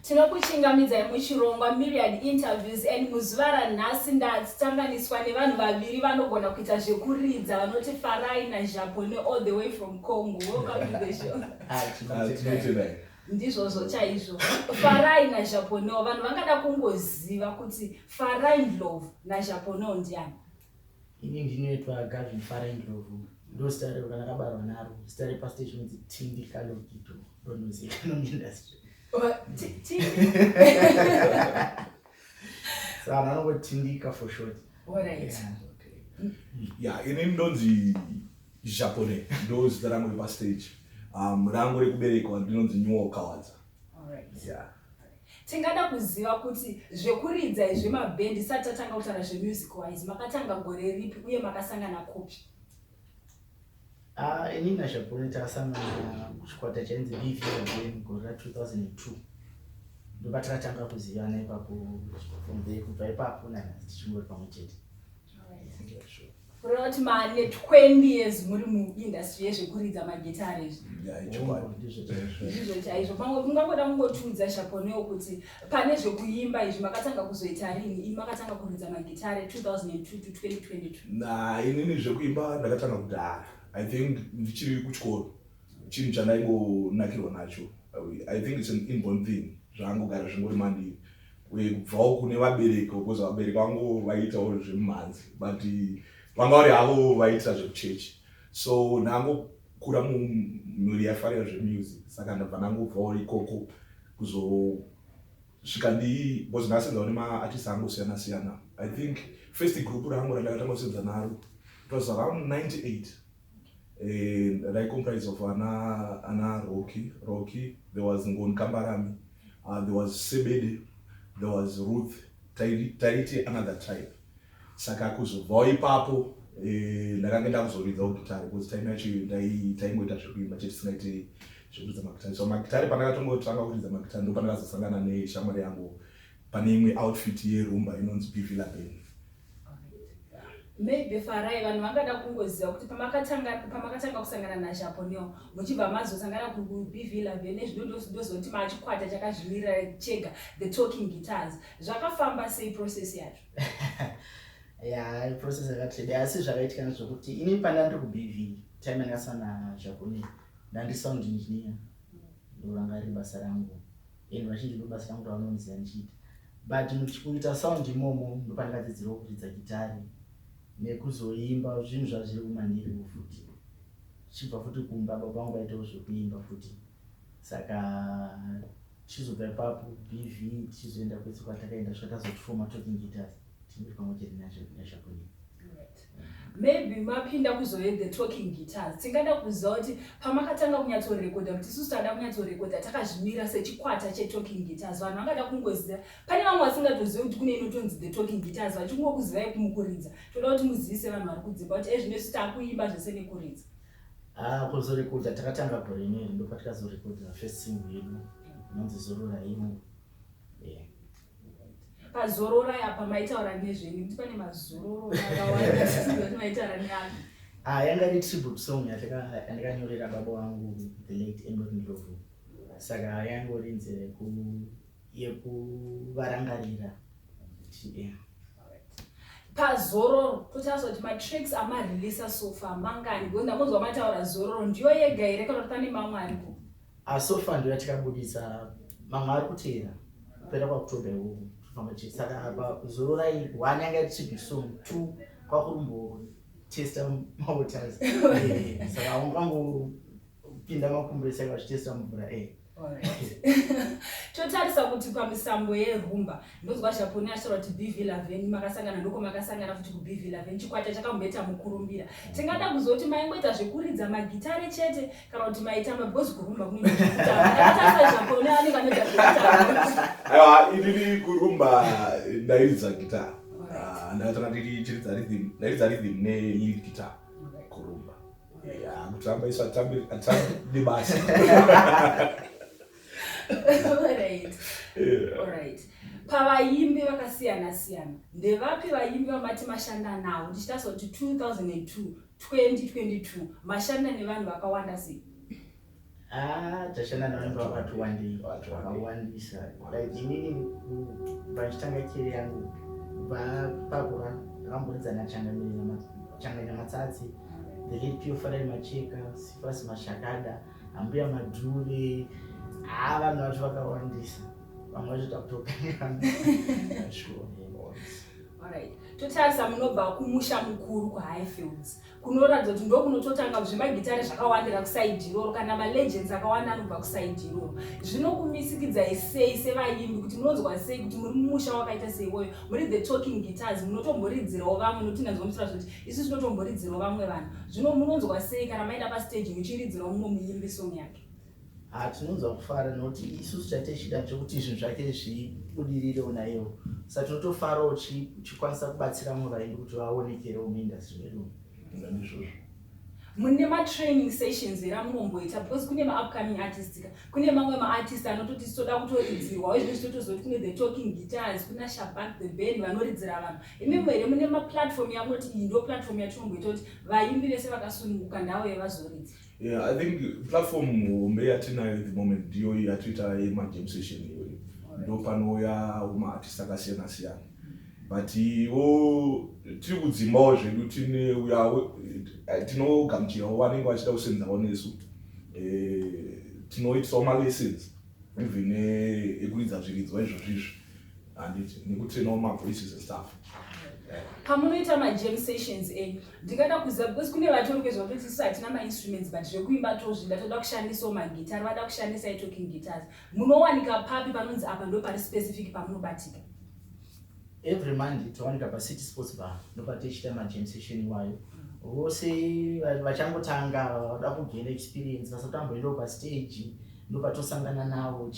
Tinokuchingamidzai muchirongwa Myriad Interviews and muzuva ranhasi ndatanganiswa nevanhu vaviri vanogona kuita zvekuridza vanoti Farai naJabone all the way from Congo. Welcome to the show. Ah, tinotendai. ndizvozvo chaizvo farai najaponeo vanhu vangada kungoziva kuti farai ndlovu najaponeo ndiani Ini ndinoitwa Gavin Farai Ndlovu, ndozita rero kana kabarwa naro, zita repastage inonzi Tindi Kalogito, ndondozikanwa muindustry. Saka vanhu vanongotindika for short. Alright. Yeah. ya ini ndonzi japone ndozita rangu repastage um, rangu rekuberekwa ndinonzi nyuwo kawadza tingada kuziva kuti zvekuridza izvi mabhendi isati tatanga kutaura zvemusic wise makatanga gore ripi uye makasangana kupi ah, ini nashapone takasangana kuchikwata chainzi bvn gore ra 2002 ndopatakatanga kuzivana ipapo from there kubva ipapo nana tichingori pamwe chete Rotman ne 20 years muri mu industry yezvekuridza magitare izvi. Ndizvo chaizvo. Pamwe mungangoda kungotiudza Shaponeo kuti pane zvekuimba izvi makatanga kuzoita rini? Ini makatanga kuridza magitare 2002 to 2022. Na inini zvekuimba ndakatanga kudhara. I think ndichiri kuchikoro. Chinhu chandaingonakirwa nacho. I think it's an inborn thing. Zvangogara zvingori mandiri. uye kubvawo kune vabereki because vabereki vangu vaiitawo zvemumhanzi but vanga vari havo vaiitira zvekuchechi so ndangokura mumhuri yaifarira zvemusic saka ndabva ndangobvawo ikoko kuzosvika ndii because ndakasenzawo nemaartist angu siyana siyana i think first group rangu randakatanga kusenza naro it was around 98 eh, rai comprise of ana ana rocky rocky there was ngoni kambarami uh, there was sebede there was ruth taiti another tribe saka kuzobvawo ipapo eh, ndakange ndakuzoridza ugitari bcause time yacho taingoita zvekuimba chete tisingaite zvekuridza magitari so magitari pandakatongotanga kuridza magitari ndo pandakazosangana neshamwari yangu pane imwe outfit yerumba inonzi bvila band Maybe Farai vanhu vangada kungoziva kuti pamakatanga pamakatanga kusangana na Chaponel muchibva mazosangana ku BV Love ne zvinondozoti machikwata chakazvimirira chega the talking guitars zvakafamba sei process yacho ya process yakatida asi zvakaitika nezvekuti ini panda ndiri ku BV time yandakasana Chaponel ndandi sound engineer ndoranga riri basa rangu and vachiti ndobasa rangu ravanonzira ndichiita but muchikuita sound imomo ndopandikadzidzirawo kuridza gitari nekuzoimba zvinhu zvazviri kumandiriwo futi chibva futi kumba baba vangu vaitawo zvekuimba futi saka tichizobva ipapo bv tichizoenda kwese kwatakaenda svika tazoti foma talking guitars tinoti pamwe chete nazvakunei Maybe mapinda kuzohear the talking guitars. Tingada kuziva kuti pamakatanga kunyatsorekodha kuti isusu tangada kunyatsorekodha takazvimira sechikwata chetalking guitars. Vanhu vangada kungoziva. Pane vamwe vasingatozive kuti kune inotonzi the talking guitars vachingokuzivai kumukuridza. Toda kuti muzivise vanhu vari kudzimba kuti ezvino isu takuimba zvese nekuridza. Ah, kuzorekodha takatanga gore inoiri ndopatikazorekodha first single yedu inonzi zorora imo. Yeah. pazororai apa maitaura nezvenyu kuti pane mazororo akawanda maitaura neanhu Ah, yanga iri tribute song yandakanyorera baba wangu the late Ember Ndlovu. Saka yangori nzira yeku yekuvarangarira. Yeah. pazororo totariswa kuti matracks amareleasa sofa mangani because ndakunzwa mataura zororo ndiyo yega here kana kuti pane mamwe ariko Ah, so far ndoya tikabudisa mamwe ari kuteera kupera kwakutoda iwo tofamba chete saka apa zororai one yanga iri chibi song two kwakurumbo testa mawaters Eh, saka ungangopinda makumburesa akazvitesta mumvura eh. totarisa kuti pamisambo yerumba ndonzwa zvaponi ashora kuti bv laveni makasangana ndoko makasangana futi kubv laveni chikwata chakambeta mukurumbira tingada kuzoti maingoita zvekuridza magitare chete kana kuti maitamba because kurumba kuneiiri kurumba ndairidza guitar ah, ndatora ndichiridza rhythm ndairidza rhythm ne lead guitar kurumba kutamba isu atambi nebasa pavaimbi vakasiyana siyana ndevapi vaimbi vamati mashanda nawo ndichitasakuti 2002 2022 mashanda nevanhu vakawanda sei Ah, tashanda navanhu vakati wandei vakawandisa like inini vachitanga kere yangu vapakura vakamboridzana changaina matsatsi the late pio farai macheka sifasi mashakada ambuya madhuve haa ah, vanhu vacho vakawandisa vamwe vacho takutokangaa totarisa munobva kumusha mukuru kuhighfields kunoratidza kuti ndokunototanga zvemagitare zvakawandira kusaidi iroro kana malegends akawanda anobva kusaidi iroro zvinokumisikidzai sei sevayimbi kuti munonzwa sei kuti muri mumusha wakaita seiwoyo muri the talking guitars munotomboridzirawo vamwe nokuti ndanzwa muchitaura zvekuti isu tinotomboridzirawo vamwe vanhu zvino munonzwa sei kana maenda pastaji muchiridzirawo mumwe muyimbi song yake Ha tinonzwa kufara nokuti isusu chatichida ndechekuti zvinhu zvake zvibudirirewo naiyewo sa tinotofarawo uchikwanisa kubatsira vamwe vaimbi kuti vaonekerewo muindastry medu ndizvozvo mune matraining sessions here amunomboita because kune maupcoming artist ka kune mamwe maartist anototi titoda kutoridzirwawo izvino zvinotozoti kune the talking guitars kuna shabak the band vanoridzira vanhu imimo here mune maplatform yamunoti iyi ndo platform yatinomboita kuti vaimbi vese vakasununguka ndavo yevazoridza Yeah, I think platform hombe yatinayo at the moment ndiyo yatoita yemajam session iyoyo ndo panouya maartist akasiyana siyana but wo tiri kudzimbawo zvedu tine uya eh, tinogamuchirawo vanenge vachida kusenzawo nesu eh, tinoitsawo malessons even eh, ekuridza zviridzwa izvozvizvi handiti nekutrainawo mavoices and stuff pamunoita majam sessions enyu ndingada kuziva because kune vatori kwezva kuti tisu hatina mainstruments but zvekuimba tozvida toda kushandisawo magitari vada kushandisa italking guitars munowanika papi panonzi apa ndo pari specific pamunobatika every monday towanika pacity sports bar nopatichita majam session iwayo vose vachangotanga vada kugena experience vasatamboendawo pastage ndobatosangana navo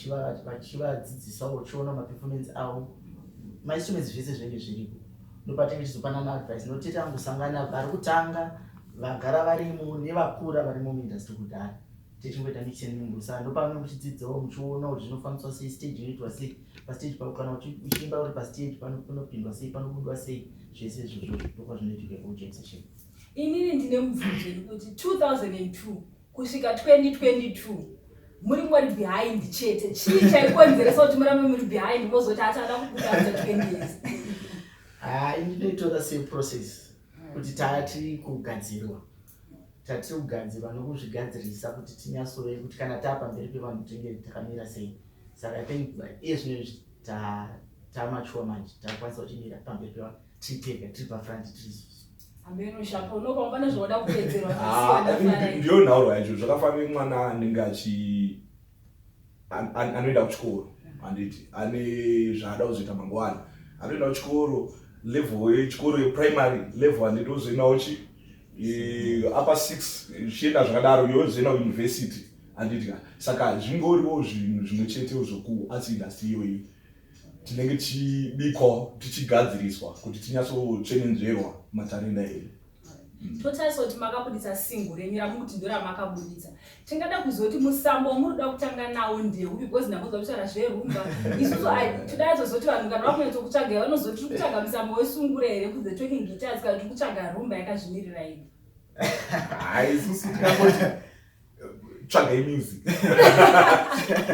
vachivadzidzisawo uchiona maperformance avo mainstruments zvese zvinenge zviriko ndopatinge tichizopanana advice notete angosangana vari kutanga vagara varimo nevakura varimo muindustry kudhara tichingoita mixen mumbusa ndopamwe muchidzidzawo muchiona kuti zvinofambiswa sei stage inoitwa sei pastage pao kana uchiimba uri pastage panopindwa sei panobudwa sei zvese izvozvo ndokwa zvinoitika kujackson inini ndine mubvunzo yekuti 2002 kusvika 2022 muri ngori behind chete chii chaikonzeresa kuti murambe muri behind mozoti achada kubuda after 20 years hai ndinoitora seprocess kuti taa tiri kugadzirwa tatiri kugadzirwa nokuzvigadzirisa kuti tinyasove kuti kana taa pamberi pevanhu tinge takamira sei saka i think iye zvino izvi tamachuwa manje takwanisa kuchimira pamberi pevanhu titeka tiri pafront tisu ndiyo nhauro yacho zvakafanira mwana anenge achi anoenda kuchikoro handiti ane zvaada kuzoita mangwana anoenda kuchikoro level yechikoro yeprimary level handiti ozoendawo chi upper six zvichienda zvakadaro yozoenda kuuniversity handiti ka saka zvingoriwo zvinhu zvimwe chetewo zvokuarts industry iyoyi tinenge tichibikwa tichigadziriswa kuti tinyatsotsvenenzverwa matarenda edu mm. totarisa kuti makabuditsa singo renyu ramukuti ndo ramakabuditsa tingada kuziva kuti musambo wamuri kuda kutanga nawo ndeupi bcause ndamboza kutaura zverumba isusu todaa tozoti vanhu kana vakunyatso kutsvaga vanozoti tiri kutsvaga musambo wesungure here kunze talking guitars kana tiri kutsvaga rumba yakazvimirira ini haisusu tikangoti tsvagai music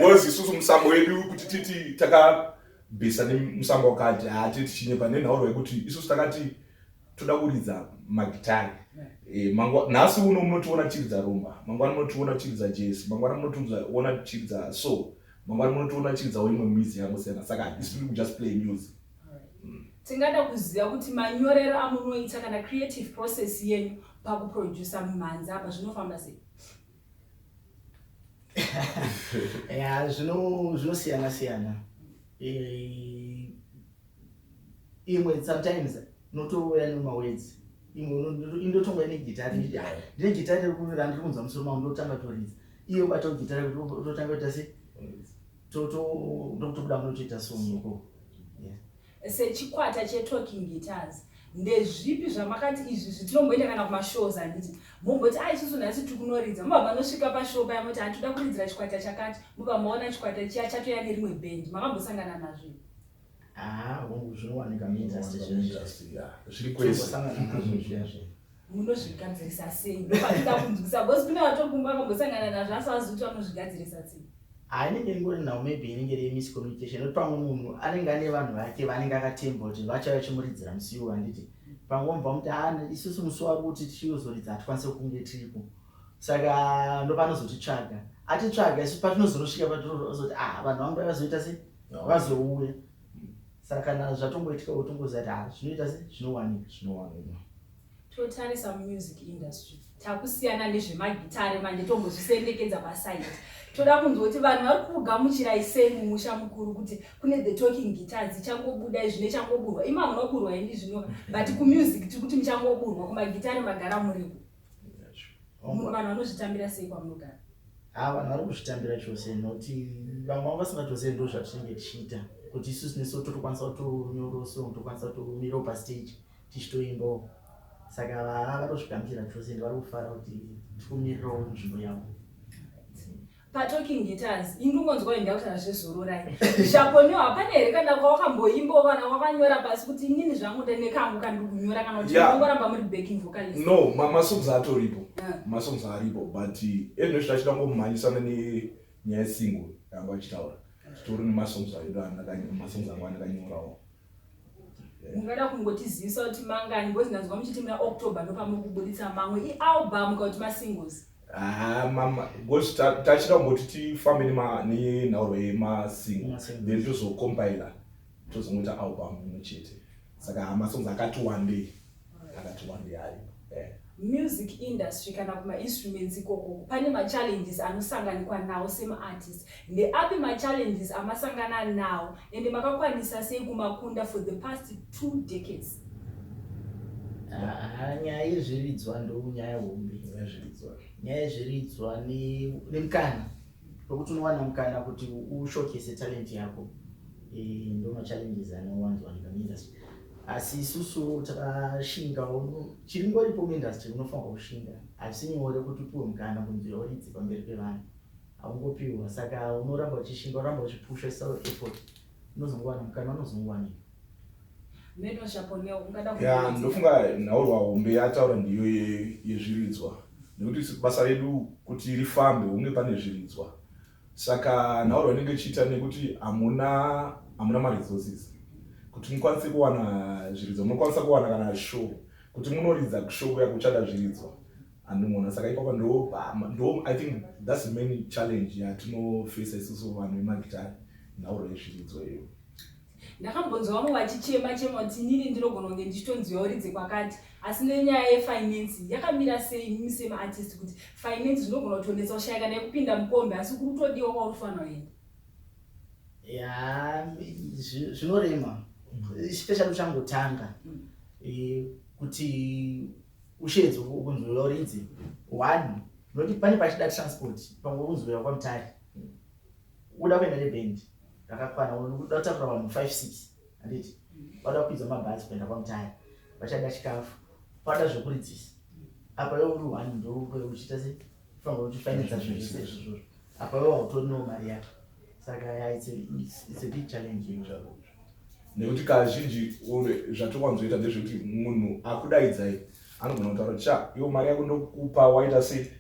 was isusu musambo wedu kuti titi takabhesa nemusambo wakati hati tichinyepa nenhauro yekuti isusu takati toda kuridza magitari e, eh, nhasi uno munotiona tichiridza rumba mangwana munotiona tichiridza jesi mangwana munotiona tichiridza so mangwana munotiona tichiridzawo imwe mizi yangosiyana saka hatisi tiri kujust play music mm. tingada kuziva kuti manyorero amunoita kana creative process yenyu pakuproducer mumhanzi apa zvinofamba sei ya zvinosiyana siyana eh, imwe sometimes notouya nemawedzi imwe indotonga ine gitari nditi ah, ndine gitari rekuti randiri kunzwa musoro mangu ndotanga toridza iyo batawo gitari rekuti totanga kuita se ndokutobuda munotoita songo koo Sechikwata cheTalking Guitars, ndezvipi zvamakati izvi zvitinomboenda kana kumashows handiti momboti a isusu nhasi tiri kunoridza mobva manosvika pashow paya moti hati toda kuridzira chikwata chakati mobva maona chikwata chiya chatoya nerimwe bhendi makambosangana nazvo haa hongu zvinowanika muindustry zvinhu zvasiyana zviri kwese munozvigadzirisa sei ndopatinda kunzwisa bcause kune vatokumba akambosangana nazvo asi azi kuti vanozvigadzirisa sei hainenge ingori nhau maybe inenge iri miscommunication nokuti pamwe munhu anenge ane vanhu vake vaanenge akatemba kuti vachava vachimuridzira musi iwo handiti pamwe vamubva muti ha ah, isusu musi wavo kuti tichiyozoridza hatikwanise kunge tiripo saka ndopanozotitsvaga atitsvaga isu patinozonosvika patirozoti a ah, vanhu vangu vaivazoita sei vazouya saka kana zvatongoitika wotongoziva kuti ah, zvinoita se zvinowanika zvinowanika totarisa mumusic industry takusiyana nezvemagitare manje tombozvisendekedza pasaidi toda kunzwa kuti vanhu vari kugamuchirai sei mumusha mukuru kuti kune the talking guitar dzichangobuda izvi nechangoburwa ima munoburwa ini zvino but kumusic tiri kuti muchangoburwa kumagitare magara muriku vanhu vanozvitambira sei kwamunogara ha ah, vanhu vari kuzvitambira chose noti vamwe vavo vasinga chose ndo zvatinenge tichiita kuti isu sineso totokwanisa kutonyoroso tokwanisa kutomira pa stage tichitoimbawo saka vaa vatozvigamuchira chose ende vari kufara kuti tikumirirawo nzvimbo yavo Pa talking guitars indingonzwa inda kutaura zvezororai zvakonio hapana here kana kwawakamboimba kana wakanyora pasi kuti inini zvangu ndine kangu kandikunyora kana kuti ndongoramba muri backing vocalist no masongs atoripo ah. masongs aripo but ezvino zvita chida ngomhanyisana nenyaya single yanga achitaura titori nemasongs aida masongs anga andakanyorawo mungada kungotizivisa kuti mangani because ndanzwa muchiti muna october ndopamuri kubuditsa mamwe ialbum ka kuti masingles Ah, mama because tachida kungoti tifambe nenhauro yemasingle then tozocompila tozongoita album imwe chete saka masongs akati wandei akatumwa ndiani eh. music industry kana kumainstruments ikoko pane machallenges anosanganikwa nawo semaartist ndeapi machallenges amasangana nawo ende makakwanisa sei kumakunda for the past two decades ah, nyaya yezviridzwa ndo nyaya hombe nyaya yezviridzwa nemukana Lokuti unowana mukana kuti ushowcase talent yako eh, ndoma challenges anowanzowanika muindustry asi isusu takashingawo chiri ngoripo muindustry unofanirwa kushinga asi nyore kuti upiwe mukana kunzi oridzi pamberi pevanhu haungopiwa saka unoramba uchishinga uramba uchipushwa so effort unozongowana mukana unozongowanika ya ndofunga nhaurwa hombe yataura ndiyo yezviridzwa nekuti basa redu kuti rifambe hunge pane zviridzwa saka nhaurwa inenge ichiita nekuti hamuna hamuna maresources kuti mukwanise kuwana zviridzwa munokwanisa kuwana kana show kuti munoridza kushow kuya kuchada zviridzwa handimona saka ipapa ndo ndo i think thats the main challenge yatinofesa isusu vanhu vemagitari nhaurwa yezviridzwa iyoyo Ndakambonzwa vamwe vachichema chema kuti inini ndinogona kunge ndichitonziwa uridze kwakati asi nenyaya yefinance yakamira sei imimi semaartist kuti finance zvinogona kutonetsa ushaya kana yekupinda mukombe asi kuri kutodiwa kwauri kufanira kuenda ya zvinorema especially uchangotanga mm. eh, kuti ushedzo kunzwira uridzi one noti pane pachida transport pamwe kunzwira kwamutari Uda kuenda neband rakakwana unoda kutakura vanhu five six handiti vada kukwidza mabhazi kuenda kwamutaya vachada chikafu vada zvekuridzisa apa iwe uri one ndoure uchiita se fanira kuti fainidza zvinhu zvese izvozvo apa iwe hautorinewo mari yako saka ya it's a, it's, it's a big challenge izvozvo nekuti kazhinji zvatokwanzoita ndezvekuti munhu akudaidzai anogona kutaura kuti cha iwo mari yako ndokupa waita se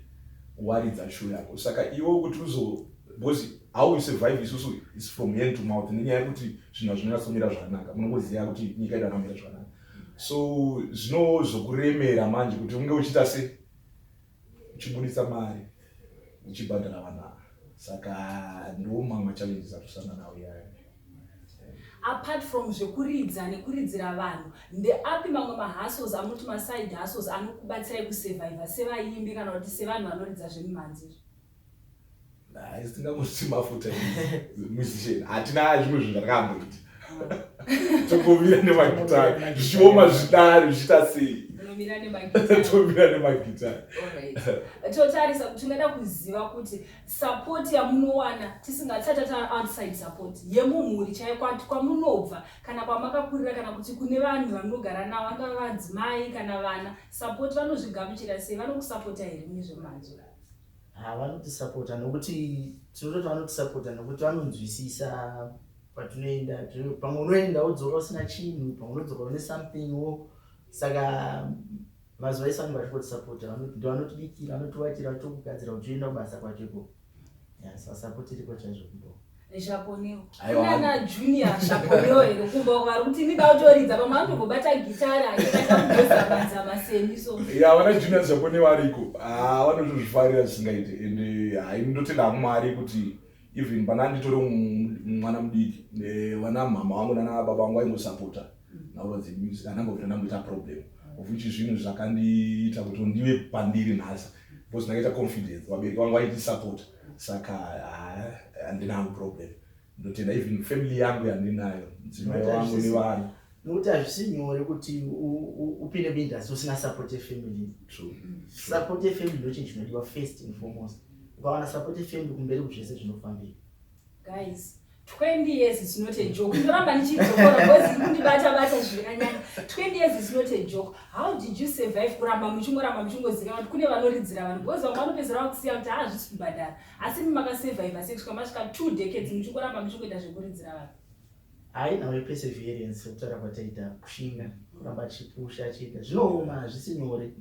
waridza sho yako saka iwo kuti uzo because how we survive isusu is from hand to mouth nenyaya yekuti zvinhu hazvinonyatsomira zvakanaka munongoziva kuti nyika yedu akamira zvakanaka so zvino zvokuremera manje kuti unge uchiita se uchibuditsa mari uchibhadhara vana saka ndiwo mamwe machallenges atusanga nawo iyaya apart from zvekuridza nekuridzira vanhu ndeapi mamwe mahustles amuti maside hustles anokubatsirai kusurvivor sevaimbi kana kuti sevanhu vanoridza zvemimhanzi izvo haisingamusi mafuta musician hatina zvimwe zvinhu zvatakamboti tokomira nemagitari zvichioma zvidari zvichiita sei tomira nemagitari totarisa kuti tingada kuziva kuti support yamunowana tisingatsati ta outside support yemumhuri chaiyo kwati kwamunobva kana kwamakakurira kana kuti kune vanhu vamunogara navo vangava vadzimai kana vana support vanozvigamuchira sei vanokusapota here mune zvemanje Ha vanotisapota nokuti tinototi vanotisapota nokuti vanonzwisisa patinoenda pamwe unoenda wodzoka usina chinhu pamwe unodzoka une something wo saka mazuva ese vanenge vachikotisapota vanotibikira vanotivakira vachitokugadzira uchioenda kubasa kwacho ikoko sasapoti iriko chaizvo kubo vanotozvifarira zvisingaite and hai ndotenda mwari kuti even pana nditore mwana mudiki vana mhama vangu nana baba vangu vaingosapota nhauro dzemusic anangovira ndamboita problem of which zvinhu zvakandiita kuti ndive pandiri nhasi because ndakaita confidence vabereki vangu vaiti support saka haa handina hangu problem ndotenda even family yangu yandinayo mudzimai wangu nevana nokuti hazvisi nyore kuti upinde muindustry usina support yefamily support yefamily ndochinhu chinodiwa first and foremost ukawana support yefamily kumberi kuzvese zvinofambira guys 20 years is not a joke ndoramba ndichidzokora because iri kundibata bata zvirikanyanya 20 years is not a joke how did you survive kuramba muchingoramba muchingozika kuti kune vanoridzira vanhu because vamwe vanopedzera vakusiya kuti haazvisi kubhadhara asi mi makasurviva sei kusvika masvika two decades muchingoramba muchingoita zvekuridzira vanhu haina we perseverance kutaura kwataita kushinga kuramba chipusha chiita zvinooma hazvisi nyore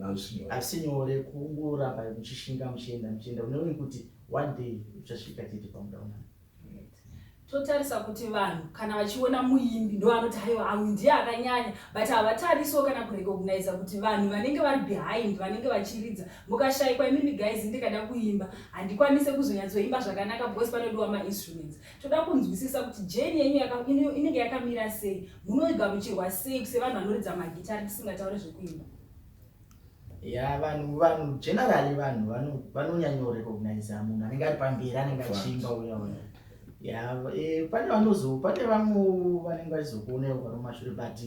hazvisi nyore kungoramba muchishinga muchienda muchienda uneoni kuti one day uchasvika chete pamudaunana totarisa kuti vanhu kana vachiona muimbi ndoanoti haiwa amu ndiye akanyanya but havatariso kana kurecognisa kuti vanhu vanenge vari behind vanenge vachiridza mukashaikwa imimi guys ndikada kuimba handikwanise kuzonyatsoimba zvakanaka because panodiwa mainstruments toda kunzwisisa kuti jeni yenyu inenge yakamira sei munoigamuchirwa sei sevanhu vanoridza magitari tisingataure zvekuimba ya vanhu vanhu generally vanhu vanonyanyo recognize munhu anenge ari pamberi anenge achiimba uya uya ya e, pane vanozo pane vamwe vanenge vachizokuonawo pano mashure but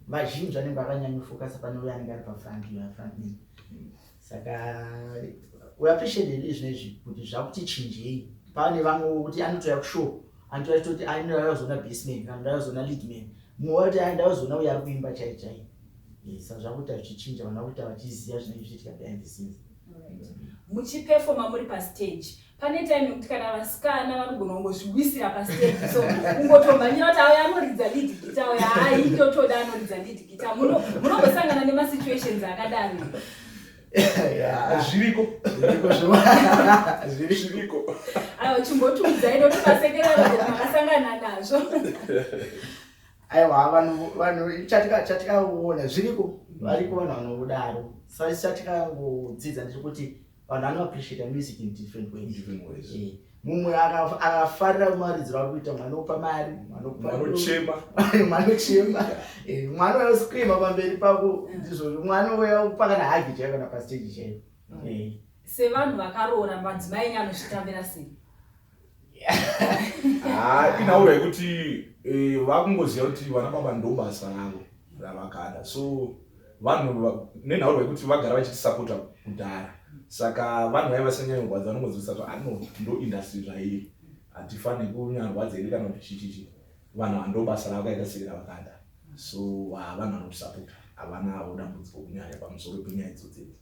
vazhinji vanenge vakanyanyofokasa pane uya anenge ari pafront uya front man saka we appreciate it izvino izvi kuti zvakuti chinjei pane vamwe vokuti anotouya kushow anotouya chitoti anouya kuzoona baseman kana ndauya kuzoona leadman mumwe wati ndauya kuzoona uya ari kuimba chai chai Isa zvakuita zvichichinja vana kuita vachiziva zvinenge zvichiitika behind the scenes. muchipefoma muri pastage pane time yekuti kana vasikana vanogona kungozviwisira pastage so kungotomhanyira kuti auya anoridza lead gita auya hai ndotoda anoridza lead gita Muno- munongosangana nemasituations akadaro Yeah. zviriko Zviriko zvo- Zviriko. zviriko aiwa chimbotiudzai ndotomasekerera kuti makasangana nazvo aiwa vanhu vanhu chatika chatikaona zviriko variko vanhu vanodaro sasi chatikangodzidza ndiri kuti vanhu vanoappreciata music in different ways eh, mumwe akafarira kumaridziro ari kuita mwana opa mari mwanochema eh, mwana uyoscreama pamberi pako ndizvozvo mwana uya pakana hagi chaiyo kana pasteji chaiyo eh. sevanhu vakaroora madzimai enyu anozvitambira sei haa inaura yekuti eh, vakungoziva kuti vana baba ndobasa ravo ravakada so vanhu nenhauro yekuti vagara vachitisapota kudhara saka vanhu vaiva vasanyanyirwadza vanongodzivisa kuti ano ah, ndo industry zvairi hatifani kunyarwadza iri kana kuti chichichi vanhu vandobasa ravo kaita sei ravakada so ah, vanhu vanotisapota havana avo dambudziko kunyanya pamusoro penyaya idzodzedzi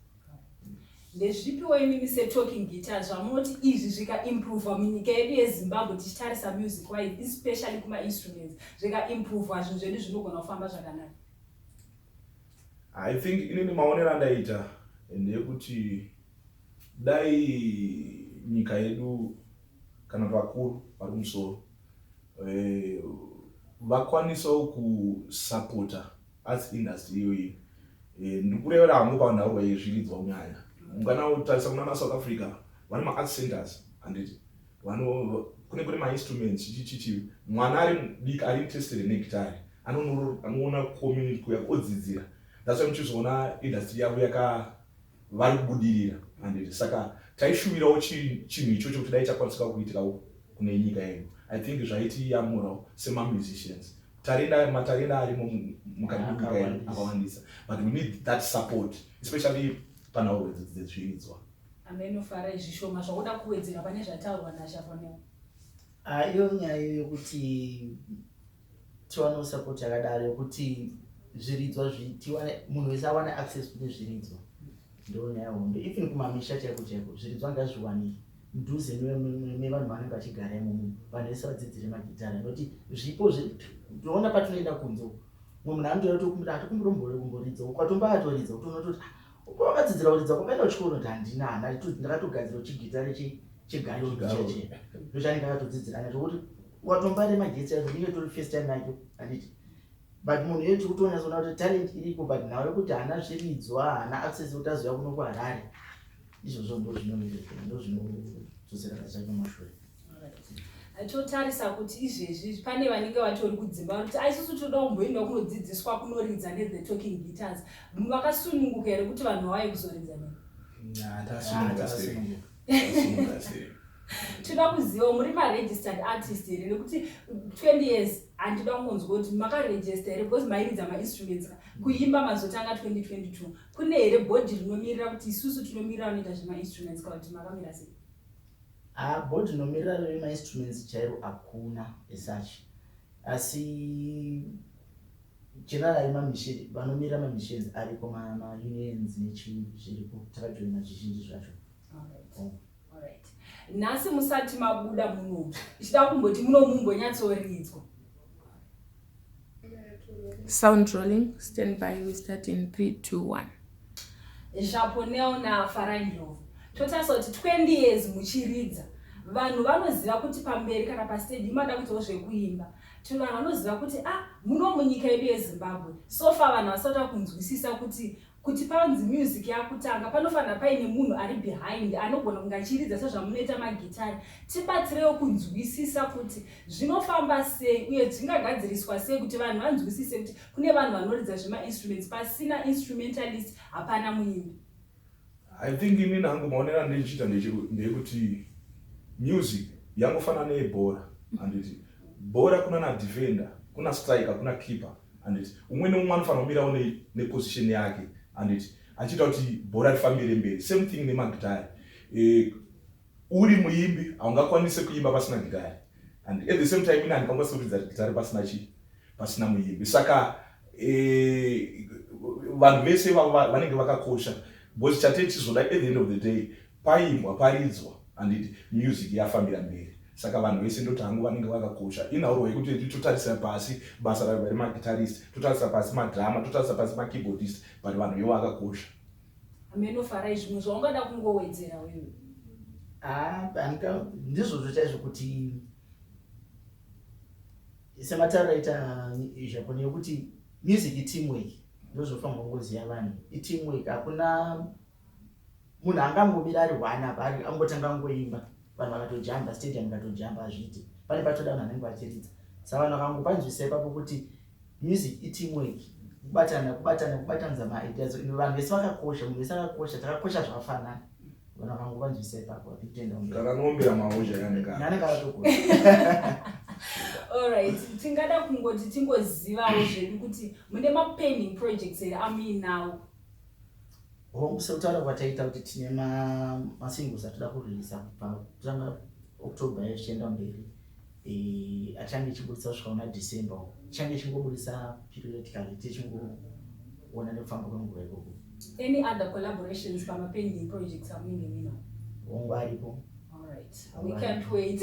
Ndezvipiwo imimi se talking guitar zvamoti izvi zvika improver munyika yedu yeZimbabwe tichitarisa music wise especially kuma instruments zvika improver zvinhu zvedu zvinogona kufamba zvakanaka. I think inini maonero andaita ndeyekuti dai nyika yedu kana vakuru vari kumusoro eh, vakwanisawo kusapota arts industry iyoyi eh, ndikurevera hangu panhaurwa yezviridzwa kunyaya ungana utarisa kunana south africa vane maart centers handiti kune kune mainstruments chichichichi mwana ari mudiki ari interested negitari anoona community kuya odzidzira that's why muchizoona industry yavo yaka vari kubudirira handiti saka taishuvirawo chinhu ichocho kuti dai chakwanisika kuitikawo kune nyika yedu i think zvaitiyamurawo semamusicians tarenda matarenda arimo mukati menyika yedu akawandisa but we need that support especially panhauro idzi dzezviridzwa ameno farai zvishoma zvaoda kuwedzera pane zvataurwa nashafoneo ah, iyo nyaya yokuti tiwanewo support yakadaro yokuti zviridzwa tiwane munhu wese awane access kune zviridzwa ndo nyaya hombe even kumamisha chaiko chaiko zviridzwa ngazviwanike mudhuze mevanhu vanenge vachigara imomo vanhu vese vadzidzire magitara nekuti zvipo toona patinoenda kunze mumwe munhu anotoya tokumbira atokumbira kumboridza ukatomba atoridza utoona toti ah, uko wakadzidzira kuridza kwakaenda uchiko unoti handina hana ndakatogadzira chigitare chegayondochanika akatodzidzira ana tokuti watombare magetsi acho ndiyo tori first time nacho handiti but munhu iyo tiri kutonyatsoona kuti talent iriko but nhau yekuti haana zviridzwa haana access kuti azoya kuno kuharare izvozvo ndo zvinonoeaa ndo zvinodzoserana zvacho mashure totarisa kuti izvezvi pane vanenge vatori kudzimba vanoti aisusu ah, toda kumboenda kunodzidziswa kunoridza nethe talking guitars vakasununguka here kuti vanhu vawaye kuzoridza ne tinoda kuziva muri maregistered artist here nekuti 20 years handida kungonzwa kuti makaregista here because mairidza mainstruments ka kuimba mazotanga 2022 kune here bhodhi rinomirira kuti isusu tinomirira vanoita zvemainstruments ka kuti makamira sei ah, bhodhi rinomirira remainstruments chairo hakuna esuch asi Chirarai mamishe vanomira mamissions ariko maunions nechii zviripo takajoina zvizhinji zvacho nhasi musati mabuda muno ichida kumboti muno mumbonyatsoridzwa sound rolling stand by we start in 3 2 1 zvaponel nafarandlovo totarisa kuti 20 years muchiridza vanhu vanoziva kuti pamberi kana pasteji imada kuitawo zvekuimba Tiri vanhu vanoziva kuti ah muno munyika yedu yeZimbabwe so far vanhu vasati vakunzwisisa kuti kuti panzi music yakutanga panofanira paine munhu ari behind anogona kunge achiridza sezvamunoita magitari tibatsirewo kunzwisisa kuti zvinofamba sei uye zvingagadziriswa sei kuti vanhu vanzwisise kuti kune vanhu vanoridza zvemainstruments pasina instrumentalist hapana muimbi I think ini nangu maonero andindichiita ndekuti music yangofanana neyebhora handiti bhora kuna na defender kuna striker kuna keeper handiti umwe neumwe anofanira kumirawo neposition yake handiti achiita kuti bhora rifambire mberi same thing nemagitare eh, Uri muimbi haungakwanise kuimba pasina gitare and at the same time ini handikwanise kuridza gitare pasina chii pasina muimbi saka eh, vanhu vese ivavo vanenge vakakosha because chatei tichizoda at the end of the day paimbwa paridzwa handiti music yafambira mberi saka vanhu vese ndoti hangu vanenge vakakosha inhauro yekuti eti totarisa pasi basa raiva remagitarist totarisa pasi madrama totarisa pasi makeyboardist but vanhu ivo vakakosha Hameno farai zvimwe zvaungada kungowedzera wewe. Ah, Anka ndizvozvo chaizvo kuti semataura ita Japan yokuti music iteamwork ndozvofanirwa kungoziva vanhu iteamwork hakuna munhu angangomira ari one apa angotanga kungoimba vanhu vakatojamba stadium ikatojamba hazviite pane patoda vanhu vanenge vachiridza sa vanhu vakangopanzwisa ipapo kuti music iteamwork kubatana kubatana kubatanidza maideas and vanhu vese vakakosha munhu vese akakosha takakosha zvakafanana vanhu vakangopanzwisa ipapo vapitendakanoombera maozha yananenge akatokosha allright tingada kungoti tingozivawo zvedu kuti mune mapending projects here amuinawo hongu sekutaura kwataita kuti tine masingles atoda kureleasa kubva kutanga october yachienda mberi eh, achange ichiburitsa kusvika una december ichange ichingoburitsa periodically tichingoona nekufamba kwenguva ikoko any other collaborations pamapending projects amunenge mino hongu aripo we can't wait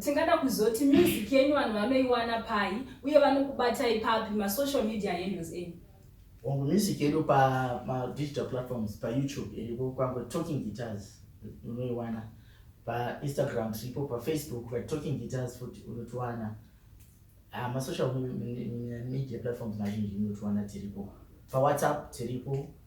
Tingada kuzoti music yenyu vanhu vanoiwana pai uye vanokubatai papi masocial media handles enyu? Hongu music yedu pamadigital platforms payoutube iripo kwange talking guitars unoiwana painstagram tiripo pafacebook patalking guitars futi unotiwana ah, masocial media platforms mazhinji unotiwana tiripo pawhatsapp tiripo